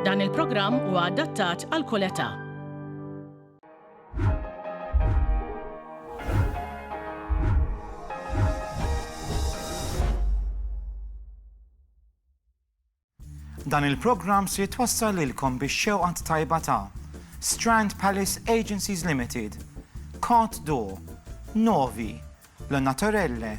Dan il-programm huwa adattat għal kull età. Dan il-programm se jitwassal lilkom biex xewqant tajba ta' Strand Palace Agencies Limited, Cot Door, Novi, L-Naturelle,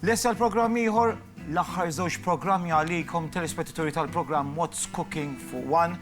Lest għal programm ieħor? L-aħħar żewġ programmi għalikom telespettaturi tal-programm What's Cooking fuq One.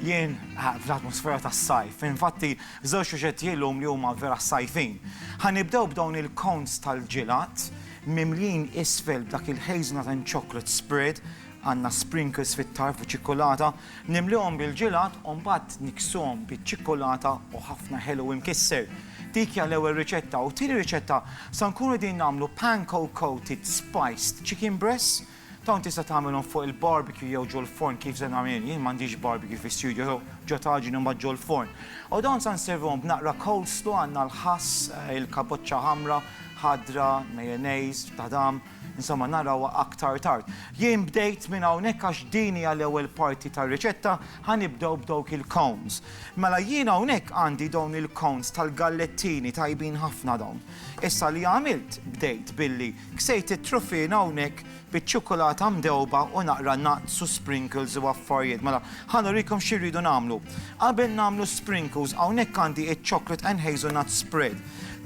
Jien ah, fl-atmosfera tas-sajf, infatti żewġ suġġetti illum li huma vera sajfin. Ħanibdew b'dawn il-cones tal-ġilat mimlin isfel b'dak il-hazelnut and chocolate spread għandna sprinkles fit-tarf u ċikkulata, nimlihom bil-ġilat u mbagħad niksuhom biċ-ċikkulata u ħafna ħelu imkisser. Dik hija l-ewwel riċetta u t-tieni riċetta sa nkunu qegħdin nagħmlu panko coated spiced chicken breasts, dawn tista' tagħmilhom fuq il-barbecue jew ġol forn kif se nagħmel jien, jien m'għandix barbecue fi studio so ġo taġin u mbagħad ġol forn. U dawn sa nservuhom b'naqra coleslaw għandna l-ħass, il-kaboċċa ħamra, ħadra, mayonnaise, tadam. Insomma, narawha aktar tard. Jien bdejt minn hawnhekk għax din hija l-ewwel parti tar-riċetta, ħa nibdew b'dawk il-cones. Mela jien hawnhekk għandi dawn il-cones tal-gallettini tajbin ħafna dawn. Issa li għamilt, bdejt billi ksejt it-truffiena hawnhekk biċ-ċukulata mdewba u naqra nuts u sprinkles u affarijiet. Mela, ħa nurikom xi rridu nagħmlu. Qabel nagħmlu sprinkles, hawnhekk għandi iċ-chocolate and hazelnut spread.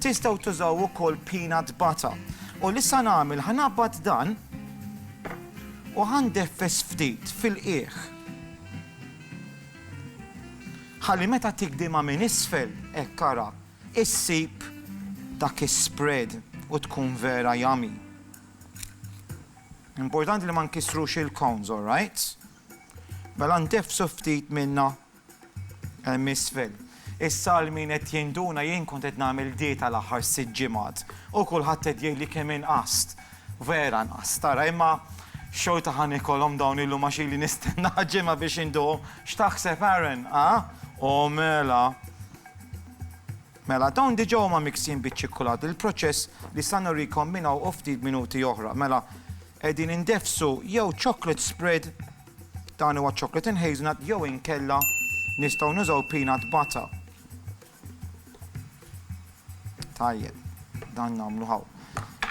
Tistgħu tużaw ukoll peanut butter. U li sa nagħmel ħa naqbad dan u ħa ndeffes ftit fil-qiegħ. Ħalli meta tigdimha minn isfel, hekk ara, issib dak is-spread u tkun vera yummy. Importanti li ma nkissrux il-cones, all right? Mela ndeffsu ftit minnha Hemm isfel. Is-sal min qed jinduna jien kont qed nagħmel dieta l-aħħar sitt ġimgħat u kulħadd qed jgħidli kemm inqast. Vera nqast tara imma xorta ħa niekolhom dawn illum għax ili nistennaha ġimgħa biex induqhom. X'taħseb Aaron, ha? O mela! Mela dawn diġà huma miksin biċ-ċikkulat bil-proċess li sa nurikom minn hawn u ftit minuti oħra. Mela qegħdin indeffsu jew chocolate spread Dan huwa chocolate and hazelnut jew inkella nistgħu nużaw peanut butter. Tajjeb, dan nagħmlu hawn.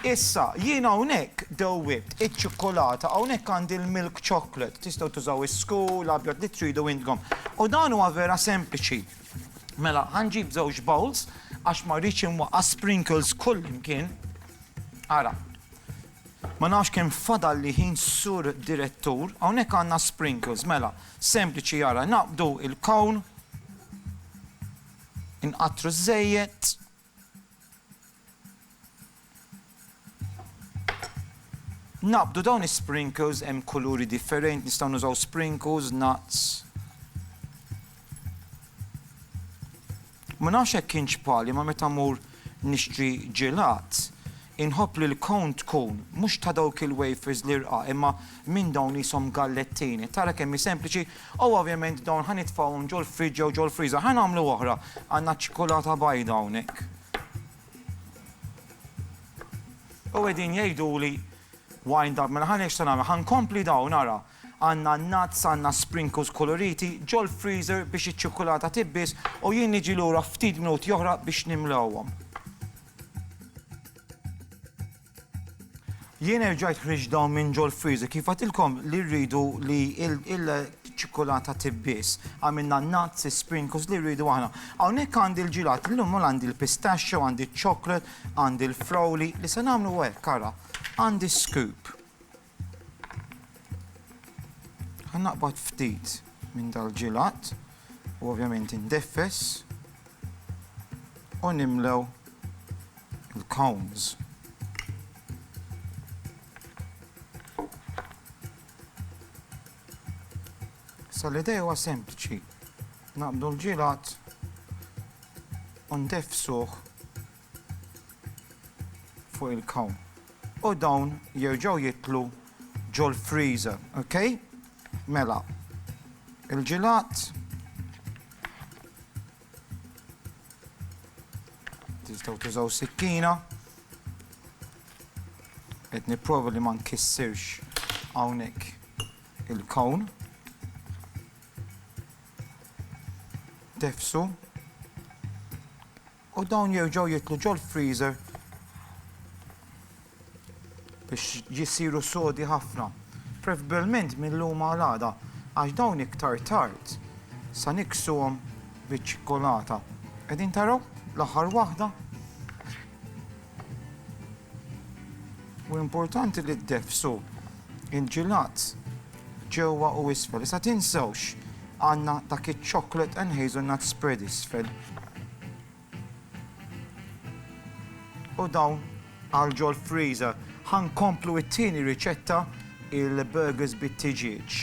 Issa, jien hawnhekk dewwibt iċ-ċikkulata, hawnhekk għandi l-milk chocolate, tistgħu tużaw is-sku, l-abjad li tridu intkom. U dan huwa vera sempliċi. Mela, ħanġib żewġ bowls għax ma rridx inwaqqa' sprinkles kullimkien. Ara, Ma nafx kemm fadalli ħin Sur Direttur, hawnhekk għandna sprinkles, mela, sempliċi ara, naqbdu il-cone, inqattru ż-żejjed, naqbdu dawn is-sprinkles hemm kuluri differenti, nistgħu nużaw sprinkles, nuts, Ma nafx hekk kienx bħali ma meta mmur nixtri ġelat inħobb li l-cone tkun mhux ta' dawk il-wafers l-irqa imma minn dawn qishom gallettini. Tara kemm hi sempliċi u ovvjament dawn ħa nitfgħuhom ġol-friġġ jew ġol-freezer. Ħa nagħmlu oħra. Għandna ċ-ċikulata bajda hawnhekk. U qegħdin jgħiduli wind up. Mela ħa nagħmel. Ħa nkompli dawn ara. Għandna n-nuts, għandna sprinkles kuluriti, ġol-freezer biex iċ-ċikkulata tibbies u jien niġi lura ftit minuti oħra biex nimlgħuhom. Jien erġajt ħriġt dawn minn ġol-freezer kif għedtilkom li rridu li l-ċikkulata tibbies. Għamilna n-nuts, is-sprinkles li rridu aħna. Hawnhekk għandi l-ġilat, illum għandi l-pistachio, għandi ċ-chocolate, għandi l-frowli li se nagħmlu hekk ara. Għandi scoop. Ħa naqbad ftit minn dal-ġilat u ovvjament indeffes u nimlew il-cones. Sa l-idea huwa sempliċi. Naqbdu l-ġilat u ndefsuh fuq il-kawn u dawn jerġgħu jidħlu ġol-freezer, ok? Mela, il-ġilat tistgħu tużaw sikkina qed nipprova li ma nkissirx hawnhekk il-kawn. Tefsu U dawn jerġgħu jidħlu ġol-freezer biex jsiru sodi ħafna, prefbbilment mil-lum għal għada, għax dawn iktar tard sa niksuhom biċ-ċikkulata. Qegħdin taraw? L-aħħar waħda. U importanti li ddefsu il-ġilat. ġewwa u isfel. Issa tinsewx għandna dak iċ-chocolate and hazelnut spread isfel. U dawn għal ġol freezer. Ħa nkomplu it-tieni riċetta il-burgers bit-tiġieġ.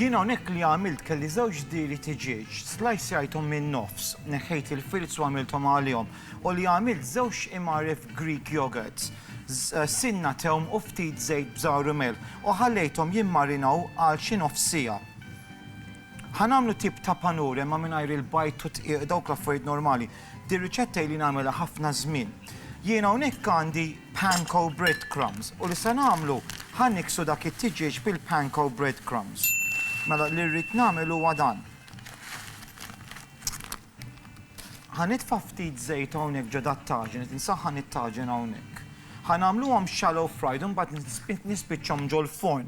Jien hawnhekk li għamilt kelli żewġ diri tiġieġ, slajsjajthom min-nofs, neħħejt il-filz u għamilthom għalihom. U li għamilt żewġ imgħaref Greek yogurts, sinna tewm u ftit żejt bżar u milħ u ħallejthom jimmarinaw għal xi nofs siegħa. Ħa nagħmlu tip ta' panur imma mingħajr il-bajd u d-dqiq, dawk l-affarijiet normali. Dir-riċetta ili nagħmilha ħafna żmien. Jien hawnhekk għandi panko bread crumbs u li se nagħmlu, ħa niksu dak it-tiġieġ bil-panko bread crumbs. Mela li rrid nagħmel huwa dan. Ħa nitfa' ftit żejt hawnhekk ġo dat-taġen, qed insaħħan it-taġen hawnhekk. Ħa nagħmluhom shallow fried u mbagħad nispiċċhom ġol-forn.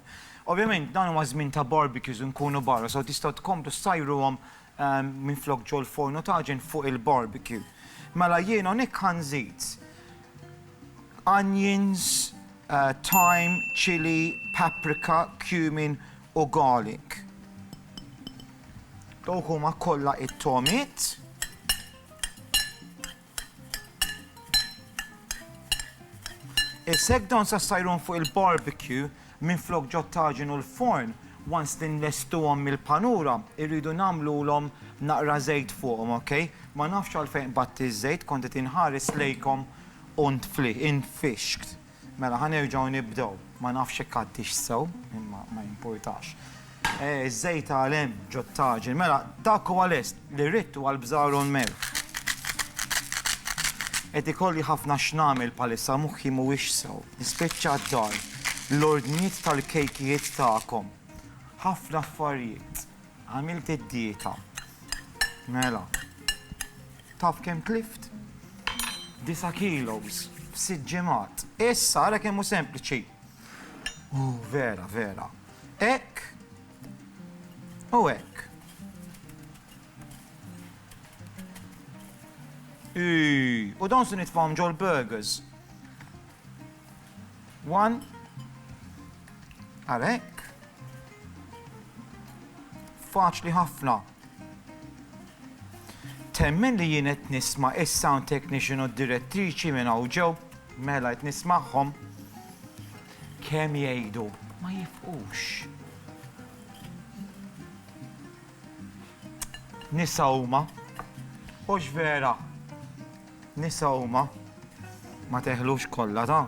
Ovvjament dan huwa żmien ta' barbecues u nkunu barra, so tistgħu tkomplu ssajruhom minflok ġol-forn u taġen fuq il-barbecue. Mela jien hawnhekk ħa nżid onions, thyme, chilli, paprika, cumin u garlic. Dawk huma kollha it-tomiet. Is-seg dawn sa sajrun fuq il-barbecue minn flok ġottaġin u l-forn once li nlestuhom mill-panura irridu nagħmlulhom naqra żejt fuqhom, ok? Ma nafx għalfejn qbadt iż-żejt kont qed inħares lejkom u ntfli, intfixkt. Mela ħa nerġgħu nibdew. Ma nafx jekk għaddix sew, imma ma jimpurtax. Eh, iż-żejt għal hemm ġot-taġin. Mela, dak huwa lest, li rrid huwa l-bżar u l-melħ. Qed ikolli ħafna x'nagħmel bħalissa, moħħi mhuwiex sew. Nispiċċa d-dar, l-ordnijiet tal-kejkijiet tagħkom. Ħafna affarijiet. Għamilt id-dieta. Mela. Taf kemm tlift? Disa' kilos f'sitt ġimgħat. Issa ara kemm hu sempliċi. Uh, vera, vera. Hekk u hekk. U dawn se nitfahom ġol burgers. 1 għalhekk faċli ħafna. Temmen li jien qed nisma' is-sound technician u d-direttriċi minn hawn ġew, mela qed nismagħhom kemm jgħidu ma jifqux. Nisa huma, hux vera Nisa huma, ma teħlux kollha ta',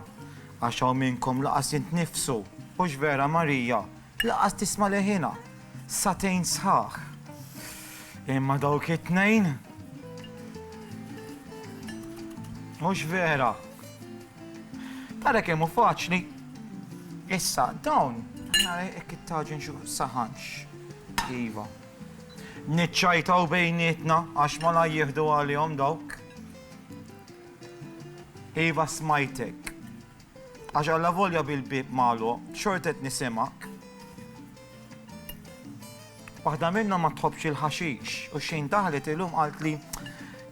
għax hawn minnkom laqas jint nnifsu, hux vera Marija, laqas tisma' leħinha, sagħtejn sħaħ. Imma dawk it-tnejn, hux vera. Tara kemm hu faċli. Issa, dawn, hekk it-taġin xu saħanx. Iva. Niċċajtaw bejnietna għax malajr jieħdu għalihom dawk. Iva smajtek. Għax allavolja bil-bieb magħluq, xorta qed nisimgħek. Waħda minnhom ma tħobbx il-ħaxix u xejn daħlet illum qalt li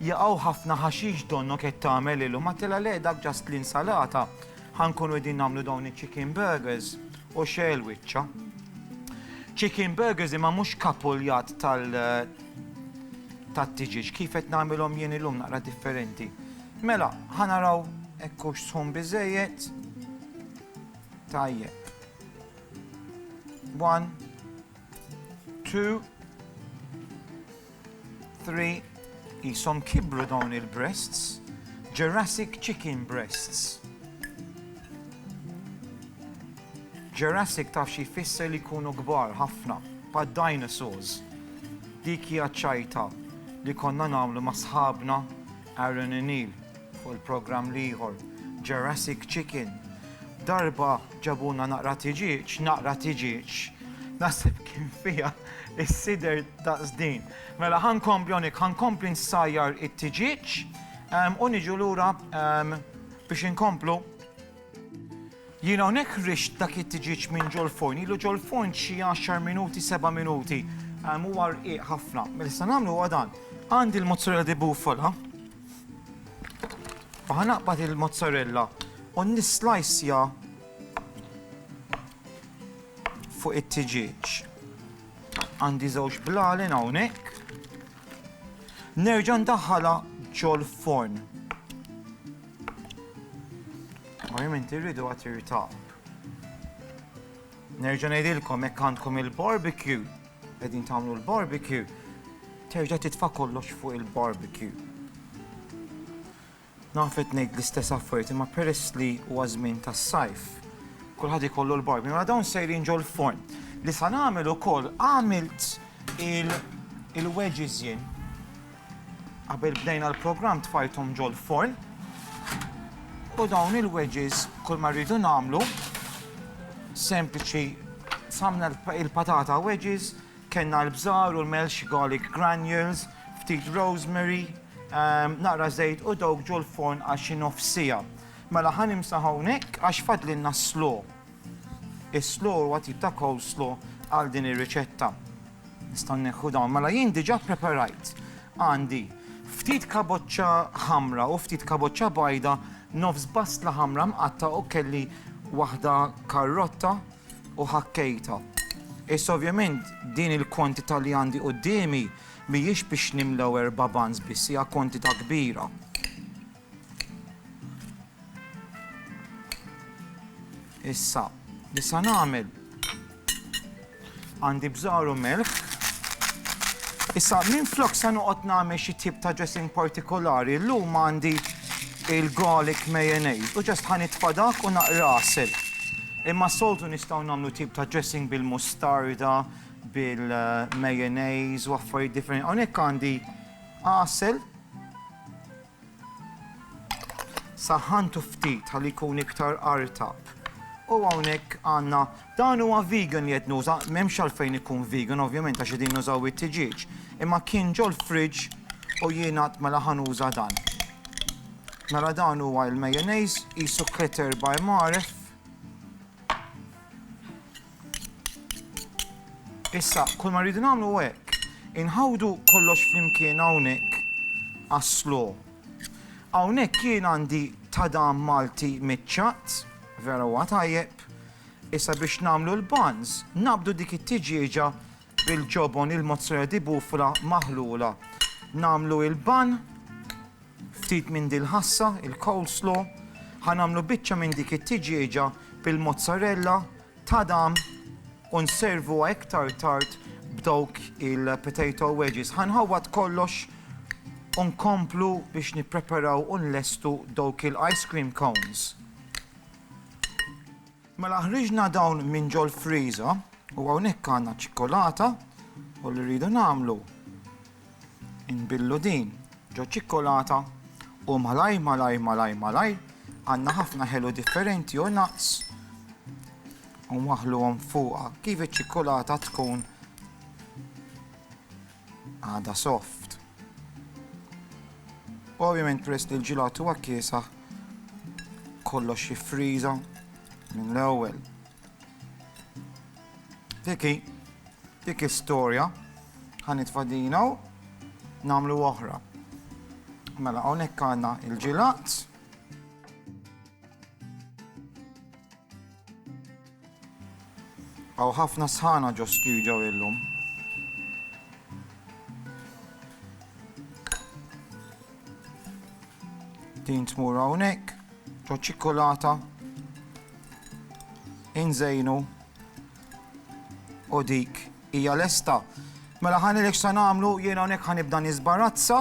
jaqgħu ħafna ħaxix donnok qed tagħmel illum. Għattilha le dak ġast l-insalata ħankunu qegħdin nagħmlu dawn iċ-chicken burgers. U xegħel wiċċa. Chicken burgers imma mhux kapuljat tal tat-tiġiġ kif qed nagħmilhom jien illum naqra differenti. Mela, ħanaraw ekkux sħun biżejjed. Tajjeb. One, 2 3 jisom kibru dawn il-breasts, Jurassic chicken breasts. Jurassic taf xi jfisser li jkunu kbar ħafna, pa' dinosaurs. Dik hija ċajta li konna nagħmlu ma' sħabna Aaron O'Neill fuq il-programm l-ieħor, Jurassic Chicken. Darba ġabuna naqra tiġieġ, naqra tiġieġ, naħseb kien fija is-sider ta' zdin. Mela ħan kompljonik, ħan kompli nsajjar it-tiġieġ u niġu lura biex inkomplu Jiena hawnhekk rixt dak it-tiġieġ minn ġol-forn, ilu ġol-forn xi għaxar minuti, seba' minuti. Ehm, huwa rqiq ħafna. Mela se nagħmlu huwa dan. Għandi l-mozzarella di bufala. U ħanaqbad il-mozzarella u nislajsja fuq it-tiġieġ. Għandi żewġ blalen hawnhekk. Nerġa' ndaħħala ġol-forn. Ovvjament irridu għat irtab. Nerġa' ngħidilkom jekk għandkom il-barbecue, qegħdin tagħmlu l-barbecue, terġa' titfa' kollox fuq il-barbecue. Nafet ngħid l-istess affarijiet imma peress li huwa żmien tas-sajf. Kulħadd ikollu l-barbecue, ma dawn sejrin ġol forn. Li sa nagħmel ukoll għamilt il-wedges jien Qabel bdejna l-programm tfajthom ġol-forn u dawn il-wedges kull ma rridu nagħmlu sempliċi samna il-patata wedges, kellna l-bżar u l-melx garlic granules, ftit rosemary, ehm, naqra żejt u dawk ġol-forn għal xi nofs siegħa. Mela ħa nimsaħ hawnhekk għax fadlilna slow. Is-slaw huwa tip ta' coleslaw għal din ir-riċetta. Nistgħu nneħħu dawn. Mela jien diġà ppreparajt. Għandi ftit kaboċċa ħamra u ftit kaboċċa bajda, nofs bastla ħamra mqatta' u kelli waħda karrotta u ħakkejtha. Issa ovvjament din il-kwantità li għandi quddiemi mhijiex biex nimlew erba' buns biss, hija kwantità kbira. Issa, li sa nagħmel għandi bżar u melħ. Issa, minn flok sa noqgħod nagħmel xi tip ta' dressing partikolari, llum għandi il-garlic mayonnaise u ġest ħan itfadak u naqrasel. Imma soltu nistgħu nagħmlu tip ta' dressing bil-mustarda, bil-mayonnaise u affarijiet differenti. Hawnhekk għandi għasel Saħħantu ftit ħalli jkun iktar artab. U hawnhekk għandna dan huwa vegan li qed nuża, m'hemmx għalfejn ikun vegan ovvjament għax qegħdin nużaw it-tiġieġ. Imma kien ġol-fridge u jien għad mela ħa nuża dan. Mela dan huwa l-mayonnaise, qisu Kreter by Maref. Issa, kull ma rridu nagħmlu hekk, inħawdu kollox flimkien hawnhekk aslu. Hawnhekk jien għandi tadam Malti miċċat, vera huwa tajjeb. Issa biex nagħmlu l-buns, nabdu dik it-tiġieġa Bil-ġobon il-mozzarella di bufla maħlula. Nagħmlu il-ban, ftit minn din il-ħassa, il-coleslaw, ħa nagħmlu biċċa minn dik it-tiġieġa bil-mozzarella, tadam, u nservuha iktar tard b'dawk il-potato wedges. Ħa nħawwad kollox u nkomplu biex nippreparaw u nlestu dawk il-ice cream cones. Mela ħriġna dawn minn ġol-friża u hawnhekk għandna ċ-ċikkolata u li rridu nagħmlu inbillu din ġoċ-ċikkolata u malajr malajr malajr malajr għandna ħafna ħelu differenti u nuts u nwaħħluhom fuqha kif iċ-ċikkolata tkun għadha soft. U ovvjament peress li l-ġilat huwa kiesaħ kollox jiffriża minn l-ewwel. Diki, dik istorja ħanitfa' dina u nagħmlu oħra. Mela hawnhekk għandna il-ġilat. Hawn ħafna sħana ġo studio illum. Din tmur hawnhekk, ġo ċikkulata, inżejnu u dik hija lesta. Mela ħanilek se nagħmlu jiena hawnhekk ħanibda nisbarazza.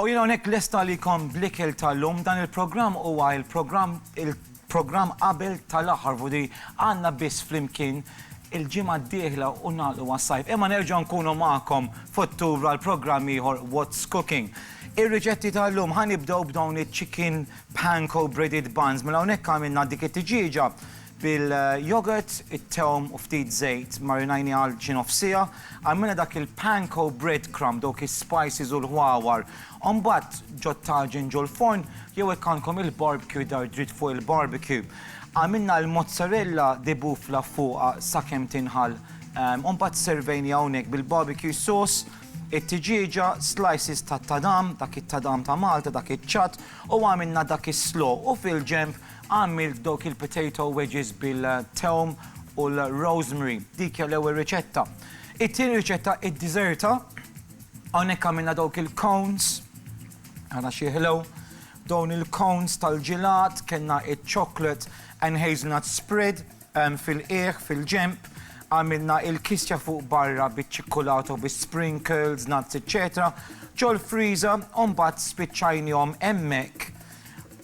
U jiena hawnhekk lest għalikom bl-ikel tal-lum. Dan il-programm huwa il-programm il-programm qabel tal-aħħar vu di għandna biss flimkien il-ġimgħa d-dieħla u nagħlqu għas-sajf. Imma nerġgħu nkunu magħkom f'Ottubru għal programm ieħor What's Cooking. Ir-riċetti tal-lum ħa nibdew b'dawn iċ-chicken panko breaded buns. Mela hawnhekk għamilna dik it-tiġieġa Bil-jogurt, it-tewm u ftit żejt marinajniha għal xi nofs siegħa. Għamilna dak il-panko breadcrumb, dawk is-spices u l-ħwawar. Mbagħad ġo t-taġin ġo l-forn jew jekk għandkom il-barbecue dar dritt fuq il-barbecue. Għamilna l-mozzarella di bufla fuqha sakemm tinħall. Mbagħad sservejniha hawnhekk bil-barbecue sauce, it-tiġieġa, slices tat-tadam, dak it-tadam ta' Malta, dak iċ-ċatt, u għamilna dak is-slaw u fil-ġenb Għamilt dawk il-potato wedges bil-tewm u l-rosemary. Dik hija l-ewwel riċetta. It-tieni riċetta id-diżerta. Hawnhekk għamilna dawk il-cones. Ara xi ħlew. Dawn il-cones tal-ġilat, kellna iċ-chocolate and hazelnut spread fil-qiegħ, fil-ġenb. Għamilna il-kisja fuq barra biċ-ċikkulata u bis-sprinkles, nuts, eċċetera. Ġol-freezer u mbagħad spiċċajnihom hemmhekk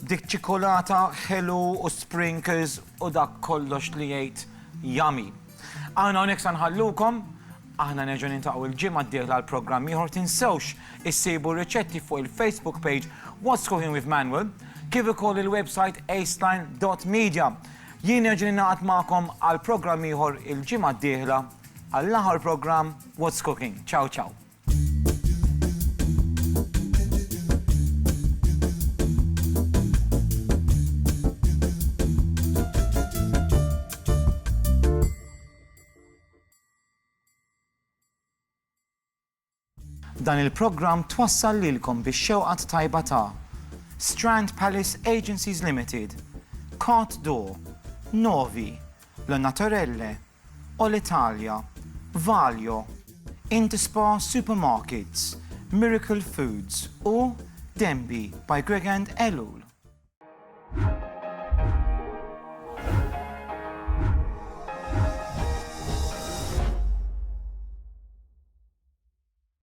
Dik ċikolata ħelu u sprinkles u dak kollox li jgħid yummy. Aħna hawnhekk sa nħallukom, aħna nerġgħu niltaqgħu l-ġimgħa d-dieħla għal programm ieħor tinsewx issibu r-riċetti fuq il-Facebook page What's Cooking with Manuel kif ukoll il-website aceline dot media. Jien nerġa' ningħaqad magħkom għal programm ieħor il-ġimgħa d-dieħla għall-aħħar programm What's Cooking. Ciao ciao. Dan il-programm twassal lilkom bix-xewqa t-tajba ta' Strand Palace Agencies Limited, Cot Door, Novi, La Naturelle, O l-Italja, Valio, Intispa Supermarkets, Miracle Foods u Denby by Greg and Ellul.